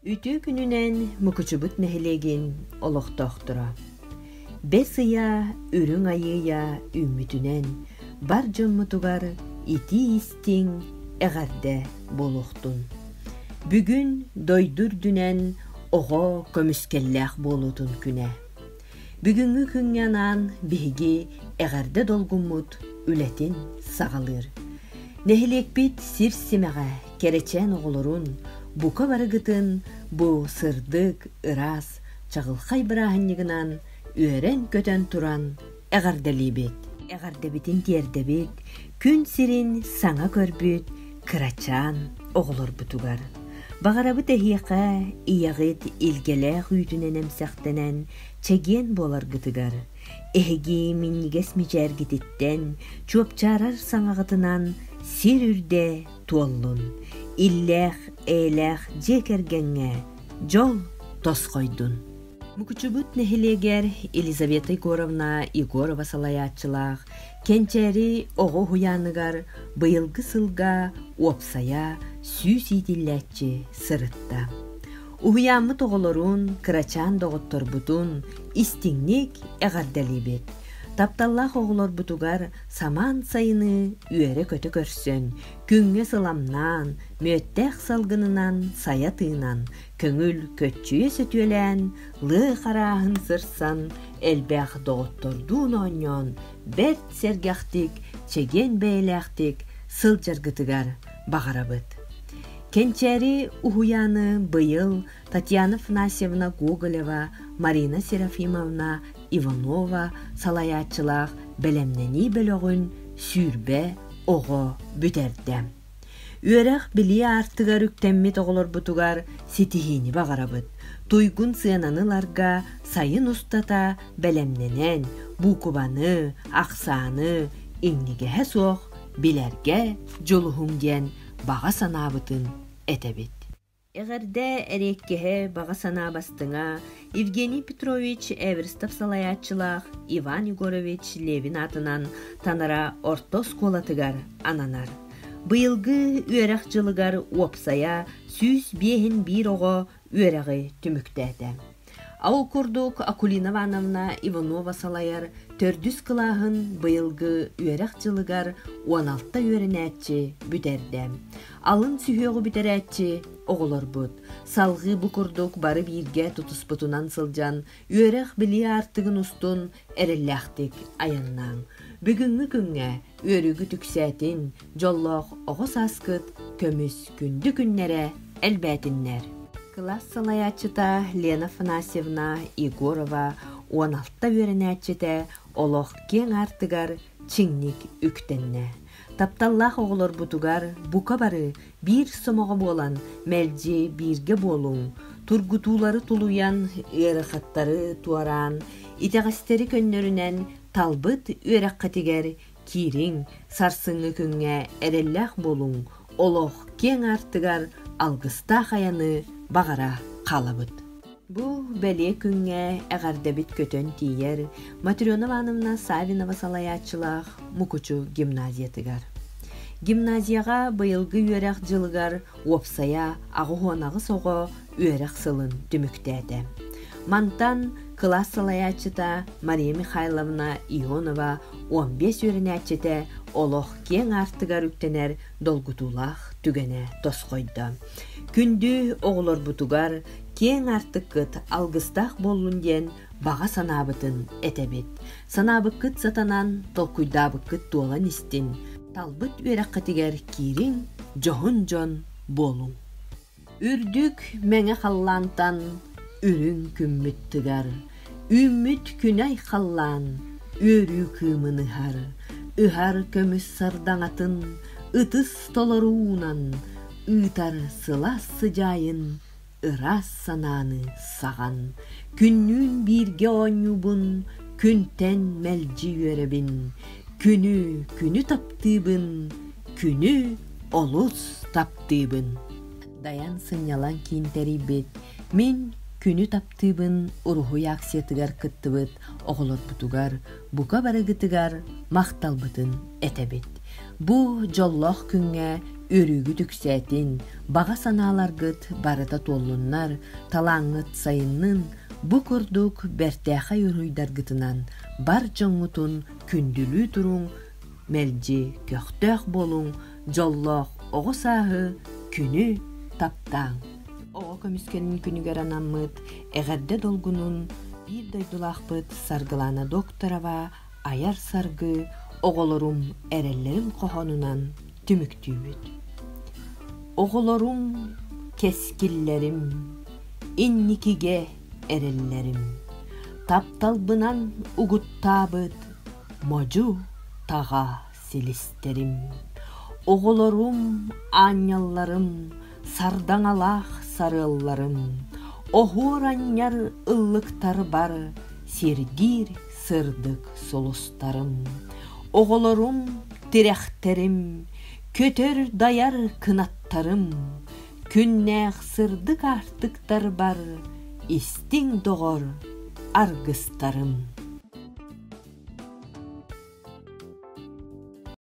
Үтүө күнүнэн Мукучубут нэһилиэгин олохтоохторо! Бэс ыйа, үрүҥ айыыйа үүммүтүнэн бар дьоммутугар итии-истиҥ, эҕэрдэ буолуохтун! Бүгүн дойду үрдүнэн оҕо көмүскэллээх буолуутун күнэ. бүгүҥҥү күҥҥэ анаан биһиги эҕэрдэ долгуммут үлэтин саҕалыыр. Нэһилиэкпит сир симэҕэ кэрэчээн оҕолорун бука барыгытын бу сырдык, ыраас, чаҕылхай бырааһынньыгынан үөрэн-көтөн туран эҕэрдэлиибит. Эҕэрдэбитин тиэрдэбит, күн сирин саҥа көрбүт, кырачаан оҕолорбутугар баҕарабыт эһиэхэ ийэҕит илгэлээх үүтүнэн эмсэхтэнэн чэгиэн буоларгытыгар эһиги минньигэс мичээргититтэн чуопчаарар саҥаҕытынан сир үрдэ туоллун иллээх эйэлээх дьиэ кэргэҥҥэ дьол тосхойдун Мукучубут нэһилиэгэр Елизавета Егоровна Егорова салайааччылаах Кэнчээри оҕо уһуйааныгар быйылгы сылга уопсайа сүүс иитиллээччи сырытта. Уһуйааммыт оҕолорун, кырачаан доҕотторбутун истиҥник эҕэрдэлиибит. Тапталлаах оҕолорбутугар самаан сайыны үөрэ-көтө көрсөн, күҥҥэ сыламнаан, мүөттээх салгынынан сайа тыынан, көҥүл көччүйэ сөтүөлээн лыы харааһын сырсан элбэх доҕоттордуун оонньоон бэрт сэргэхтик чэгиэн бэйэлээхтик сылдьаргытыгар баҕарабыт кэнчээри уһуйааны быйыл татьяна афанасьевна гоголева марина серафимовна иванова салайааччылаах бэлэмнэнии бөлөҕүн сүүрбэ оҕо бүтэрдэ Үөрэх билии аартыгар үктэммит оҕолорбутугар ситиһиини баҕарабыт. Туйгун сыананы ыларга сайын устата бэлэмнэнэн, буукубаны, ахсааны иҥнигэһэ суох билэргэ дьулуһуҥ диэн баҕа санаабытын этэбит. Эҕэрдэ эриэккэһэ, баҕа санаа бастыҥа, Евгений Петрович Эверстов салайааччылаах Иван Егорович Левин аатынан Танара орто оскуолатыгар ананар. Быйылгы үөрэх дьылыгар уопсайа сүүс биэһин биир оҕо үөрэҕи түмүктээтэ. Ол курдук Акулина Ивановна Иванова салайар төрдүс кылааһын быйылгы үөрэх дьылыгар уон алта үөрэнээччи бүтэрдэ. Алын сүһүөҕү бүтэрээччи оҕолорбут. Салгыы бу курдук бары бииргэ тутуспутунан сылдьан үөрэх-билии аартыгын устун эрэллээхтик айаннааҥ. Бүгүҥҥү күҥҥэ үөрүүгүт үксээтин, дьоллоох оҕо сааскыт көмүс күндү күннэрэ элбээтиннэр. Кылаас салайааччыта Лена Афанасьевна Егорова уон алта үөрэнээччитэ олох киэҥ аартыгар чиҥник үктэннэ. Тапталлаах оҕолорбутугар бука бары Биир сомоҕо буолан мэлдьи бииргэ буолуҥ, тургутуулары тулуйан, ыарахаттары туораан, итэҕэстэри көннөрүнэн талбыт үөрэххитигэр киириҥ, сарсыҥҥы күҥҥэ эрэллээх буолуҥ, олох киэҥ аартыгар алгыстаах айаны баҕара хаалабыт. Бу бэлиэ күҥҥэ эҕэрдэбит көтөн тиийэр Матрена Ивановна Савинова салайааччылаах Мукучу гимназиятыгар. Гимназияҕа быйылгы үөрэх дьылыгар уопсайа аҕыһыанаҕыс оҕо үөрэх сылын түмүктээтэ. Мантан кылаас салайааччыта Мария Михайловна Ионова 15 үөрэнээччитэ олох киэҥ аартыгар үктэнэр долгутуулаах түгэнэ тосхойдо. Күндү оҕолорбутугар киэҥ аартыккыт алгыстаах буоллун диэн баҕа санаабытын этэбит. Санаабыккыт сатанан, толкуйдаабыккыт туолан истин. Талбыт үөрэххитигэр киириҥ, дьоһун дьон буолуҥ. Үрдүк мэҥэ халлаантан үрүҥ күммүт тыгар, үүммүт күнэй халлаан үөрүү кыымын ыһар, ыһар көмүс сардаҥатын ытыс толору уунан ыытар сылаас сыдьаайын ыраас санааны саҕан күннүүн бииргэ оонньуубун күнтэн мэлдьи үөрэбин күнү күнү таптыыбын күнү олус таптыыбын дайан сынньалаҥ киин тэрийбит мин күнү таптыыбын актыыбын уруһуй акциятыгар кыттыбыт оҕолорбутугар бука барыгытыгар махталбытын этэбит. Бу дьоллоох күҥҥэ өрүүгүт үксээтин, баҕа санааларгыт барыта туоллуннар, талааҥҥыт сайыннын, бу курдук бэртээхэй уруһуйдаргытынан бар дьоҥҥутун күндүлүү туруҥ, мэлдьи көхтөөх буолуҥ, дьоллоох оҕо сааһы, күнү таптааҥ! Оҕо көмүскэлин күнүгэр анаммыт эҕэрдэ долгунун биир дойдулаахпыт Саргылаана Докторова айар саргы оҕолорум эрэллэрин хоһоонунан түмүктүүбүт. Оҕолорум, кэскиллэрим, инникигэ эрэллэрим, тапталбынан угуттаабыт модьу таҕаас. силистэрим, оҕолорум аанньалларым, сардаҥалаах сарыалларым, оһуор анньар ыллыктарбар сиргиир сырдык сулустарым, оҕолорум тирэхтэрим, көтөр-дайар кынаттарым, Күннээх сырдык-аартыктар бары истиҥ доҕор аргыстарым